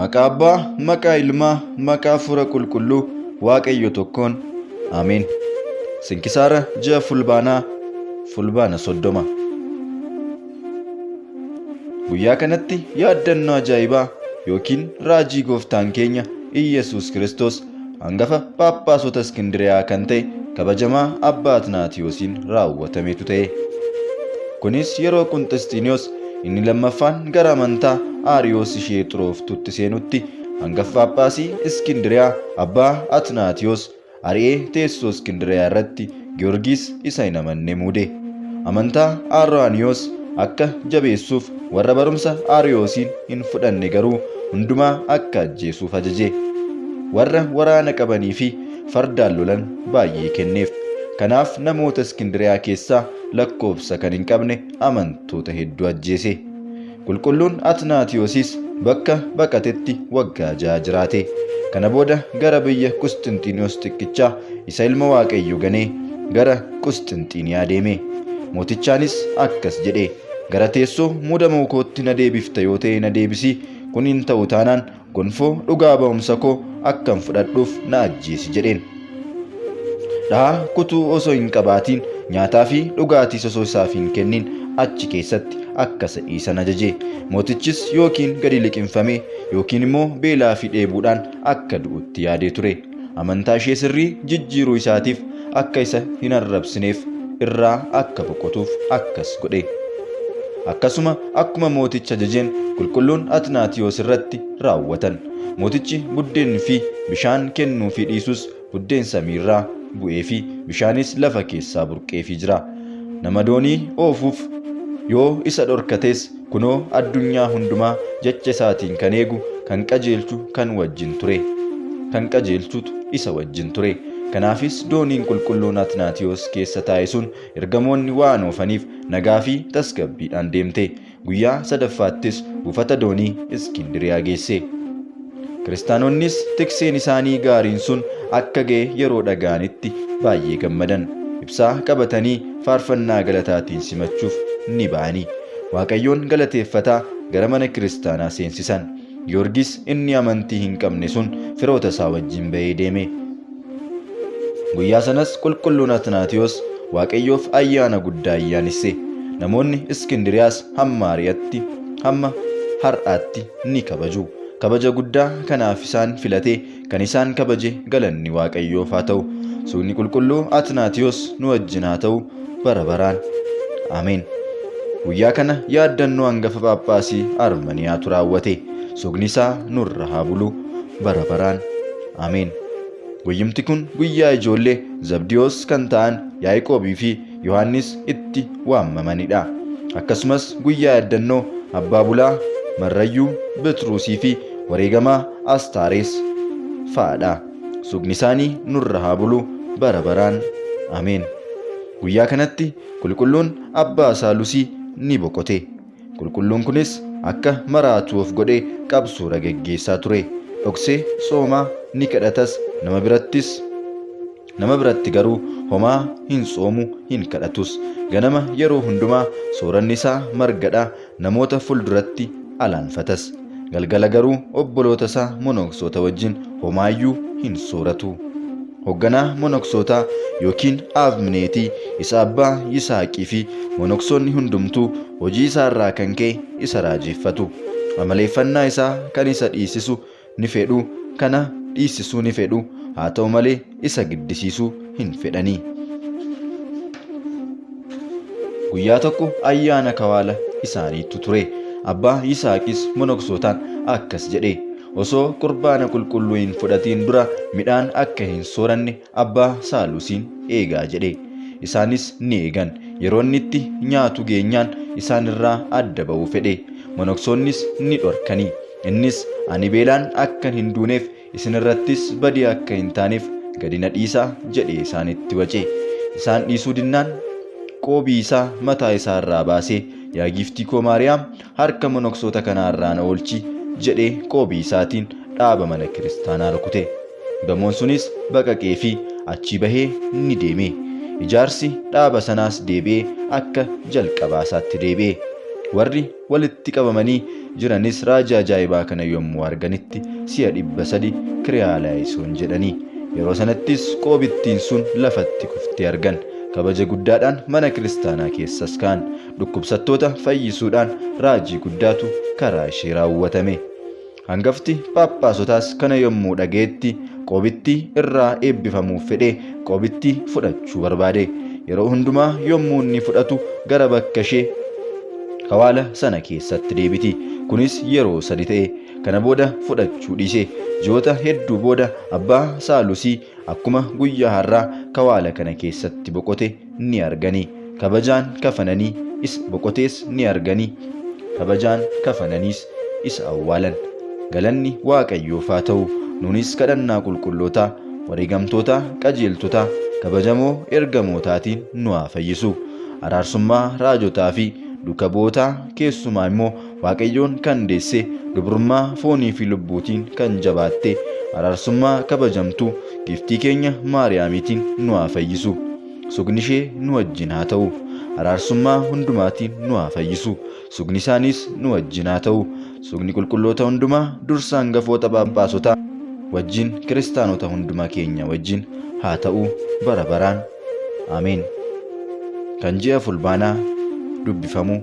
Maqaa Abbaa, maqaa Ilmaa, maqaa Hafuura Qulqulluu Waaqayyo tokkoon. Ameen. Sinkisaara ji'a Fulbaanaa Fulbaana soddoma. Guyyaa kanatti yaaddannoo ajaa'ibaa yookiin raajii gooftaan keenya Iyyasuus Kiristoos hangafa phaaphaasota Iskindiriyaa kan ta'e kabajamaa Abbaa Atnaatiyoosiin raawwatametu ta'e. Kunis yeroo Qunxisxiiniyoos inni lammaffaan gara amantaa Aariyoos ishee xurooftutti seenutti hangafa phaaphaasii Iskindiriyaa Abbaa Atnaatiyoos ari'ee teessoo Iskindiriyaa irratti Giyoorgis isa hin amanne muude. Amantaa Aarrawaaniyoos akka jabeessuuf warra barumsa Aariyoosiin hin fudhanne garuu hundumaa akka ajjeesuuf ajaje. Warra waraana qabanii fi fardaan lolan baay'ee kenneef. Kanaaf namoota Iskindiriyaa keessaa lakkoofsa kan hin qabne amantoota hedduu ajjeese. Qulqulluun Atnaatiyoosis bakka baqatetti waggaa ja'a jiraate. Kana booda gara biyya Qusxinxiiniyoos xiqqichaa isa ilma Waaqayyoo ganee gara Qusxinxiiniyaa deeme. Mootichaanis akkas jedhe, Gara teessoo muudamuu kootti na deebifta yoo ta'e na deebisi, kun hin ta'u taanaan Gonfoo dhugaa ba'umsa koo akkan fudhadhuuf na ajjeesi jedheen. Dhahaa kutuu osoo hin qabaatiin nyaataa fi dhugaatiis osoo isaaf hin kennin achi keessatti akka isa dhiisan ajaje. Mootichis yookiin gadi liqimfamee yookiin immoo beelaa fi dheebuudhaan akka du'utti yaadee ture. amantaa ishee sirrii jijjiiruu isaatiif akka isa hin arrabsineef irraa akka boqotuuf akkas godhe. Akkasuma akkuma mooticha ajajeen qulqulluun Atnaatiyoos irratti raawwatan. Mootichi buddeen fi bishaan kennuu fi dhiisus buddeen samii irraa bu'ee fi bishaanis lafa keessaa burqee fi jira. Nama doonii oofuuf yoo isa dhorkates Kunoo addunyaa hundumaa jecha isaatiin kan eegu, kan qajeelchu kan wajjin ture. Kan qajeelchutu isa wajjin ture. Kanaafis dooniin qulqulluun Atnaatiyoos keessa taa'e sun ergamoonni waan oofaniif nagaa fi tasgabbiidhaan deemte. Guyyaa sadaffaattis buufata doonii Iskindiriyaa geesse. Kiristaanonnis tikseen isaanii gaariin sun akka ga'e yeroo dhaga'anitti baay'ee gammadan. Ibsaa qabatanii faarfannaa galataatiin simachuuf ni ba'anii. Waaqayyoon galateeffataa gara mana kiristaanaa seensisan. Giyoorgis inni amantii hin qabne sun firoota isaa wajjin ba'ee deeme. Guyyaa sanas qulqulluun Atnaatiyos Waaqayyoof ayyaana guddaa ayyaanesse. Namoonni Iskindiriyaas hamma ari'atti hamma har'aatti ni kabaju. Kabaja guddaa kanaaf isaan filate, kan isaan kabaje galanni Waaqayyoof haa ta'u. Suudni qulqulluu Atnaatiyoos nu wajjin haa ta'u bara baraan. Ameen. Guyyaa kana yaaddannoo hangafa Phaaphaasii Armaniyaatu raawwate. Sugni isaa nurra haa bulu bara baraan. Ameen. Guyyumti kun guyyaa ijoollee Zabdiyoos kan ta'an Yaaqoobii fi Yohaannis itti waamamanidha. Akkasumas guyyaa yaddannoo abbaa bulaa Marrayyuu Betruusii fi wareegamaa Astaarees fa'adha. Sugni isaanii nurra haa bulu bara baraan. Ameen. Guyyaa kanatti qulqulluun abbaa isaa Lusii ni boqote. Qulqulluun kunis akka maraatuu of godhee qabsuura geggeessaa ture. Dhoksee soomaa ni kadhatas nama birattis Nama biratti garuu homaa hin soomu hin kadhatus. Ganama yeroo hundumaa sooranni isaa margadha, namoota fulduratti alaanfatas. Galgala garuu obboloota isaa monoksoota wajjin homaayyuu hin sooratu. Hogganaa monoksootaa yookiin aabmineetii isa abbaa Yisaaqii fi monoksoonni hundumtuu hojii isaa irraa kan ka'e isa raajeeffatu. Amaleeffannaa isaa kan isa dhiisisu ni fedhu, kana dhiissisuu ni fedhu, haa ta'u malee isa giddisiisuu hin fedhani. Guyyaa tokko ayyaana kawaala isaaniitu ture. Abbaa Yisaaqis monoksootaan akkas jedhe. Osoo qurbaana qulqulluu hin fudhatiin dura midhaan akka hin sooranne abbaa saalusiin eegaa jedhe. Isaanis ni eegan. Yeroo inni itti nyaatu geenyaan isaan irraa adda ba'uu fedhe. Monoksoonnis ni dhorkani. Innis ani beelaan akkan hin duuneef isin irrattis badii akka hin taaneef gadi na dhiisaa jedhee isaanitti wace. Isaan dhiisuu dinnaan qoobii isaa mataa isaa irraa baasee yaa giiftii koo Maariyaam harka monoksoota kanaa irraa na oolchi jedhee qoobii isaatiin dhaaba mana kiristaanaa rukute. Gamoon sunis baqaqee fi achii bahee ni deeme. Ijaarsi dhaaba sanaas deebi'ee akka jalqabaa isaatti deebi'e. Warri walitti qabamanii jiranis raajii ajaa'ibaa kana yommuu arganitti si'a dhibba sadi kiriyaalaayisuun jedhanii. Yeroo sanattis qoobittiin sun lafatti kuftee argan. Kabaja guddaadhaan mana kiristaanaa keessas ka'an. dhukkubsattoota fayyisuudhaan raajii guddaatu karaa ishee raawwatame. Hangafti phaaphaasotaas kana yommuu dhaga'etti qoobittii irraa eebbifamuuf fedhee qoobittii fudhachuu barbaade. Yeroo hundumaa yommuu inni fudhatu gara bakka ishee hawaala sana keessatti deebiti. Kunis yeroo sadi ta'e. Kana booda fudhachuu dhiise. Ji'oota hedduu booda abbaa Saalusii akkuma guyyaa har'aa kawaala kana keessatti boqote ni argani kabajaan kafananii is boqotees ni argani kabajaan kafananiis isa awwaalan galanni waaqayyoof haa ta'u nuunis kadhannaa qulqullootaa wareegamtoota qajeeltotaa kabajamoo ergamootaatiin nu haa fayyisu araarsummaa raajotaa fi duka bootaa keessumaa immoo Waaqayyoon kan deesse, dubrummaa foonii fi lubbuutiin kan jabaatte, araarsummaa kabajamtu giiftii keenya Maariyaamiitiin nu haa fayyisu. Sugni ishee nu wajjin haa ta'u. Araarsummaa hundumaatiin nu haa fayyisu. Sugni isaaniis nu wajjin haa ta'u. Sugni qulqulloota hundumaa dursa hangafoota phaaphaasota wajjin kiristaanota hunduma keenya wajjin haa ta'u bara baraan. Ameen. Kan ji'a fulbaanaa dubbifamu